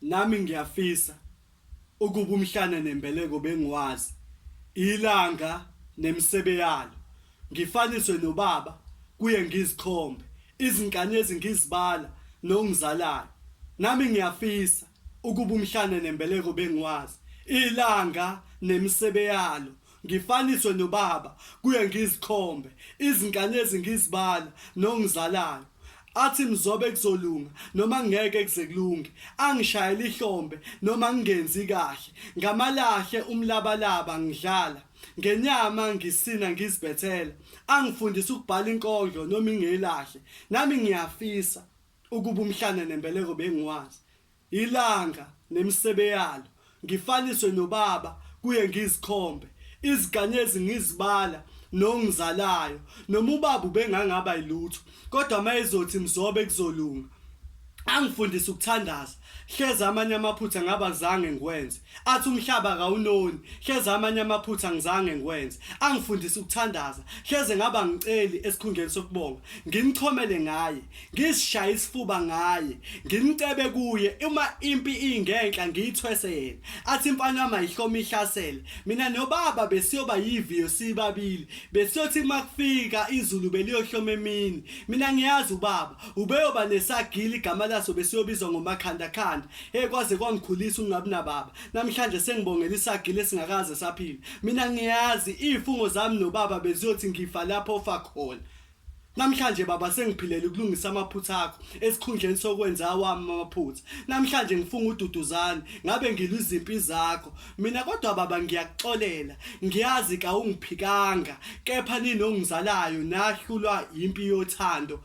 Nami ngiyafisa ukuba umhlane nembeleko bengiwazi, ilanga nemisebe yalo. Ngifaniswe nobaba kuye ngizikhombe, izinkanyezi ngizibala nongizalayo. Nami ngiyafisa ukuba umhlane nembeleko bengiwazi, ilanga nemisebe yalo. Ngifaniswe nobaba kuye ngizikhombe, izinkanyezi ngizibala nongizalayo. Athi mzobe kuzolunga noma ngeke kuze kulunge, angishayele ihlombe noma ngingenzi kahle. Ngamalahle umlabalaba ngidlala, ngenyama ngisina ngizibethela. Angifundise ukubhala inkondlo noma ingelahle, nami ngiyafisa ukuba umhlane nembeleko bengiwazi. Ilanga nemisebe yalo ngifaniswe nobaba kuye ngizikhombe iziganyezi ngizibala nongizalayo noma ubaba ubengangaba ilutho kodwa mayezothi mzobe kuzolunga angifundise ukuthandaza hleze amanye amaphutha ngaba zange ngiwenze Athi umhlaba akawunoni, hleze amanye amaphutha ngizange ngikwenze. Angifundise ukuthandaza, hleze ngaba ngiceli esikhundleni sokubonga. Ngimchomele ngaye, ngizishaye isifuba ngaye, ngimcebe kuye uma impi ingenhla ngiyithwese yena. Athi imfana yami ayihlome ihlasele. Mina nobaba besiyoba yiviyo sibabili. Besiyothi uma kufika izulu beliyohloma emini. Mina ngiyazi ubaba, ubeyoba nesagila igama laso besiyobizwa ngomakhandakhanda. Hey kwaze kwangikhulisa ungabi nababa. Namhlanje sengibongela isagile esingakaze saphila. Mina ngiyazi ifungo zami nobaba beziyothi ngifa lapho ofa khona. Namhlanje baba sengiphilela ukulungisa amaphutha akho esikhundleni sokwenza awami amaphutha. Namhlanje ngifunga ududuzane ngabe ngilwa izimpi zakho. Mina kodwa baba ngiyakuxolela. Ngiyazi ka ungiphikanga kepha ninongizalayo nahlulwa impi yothando.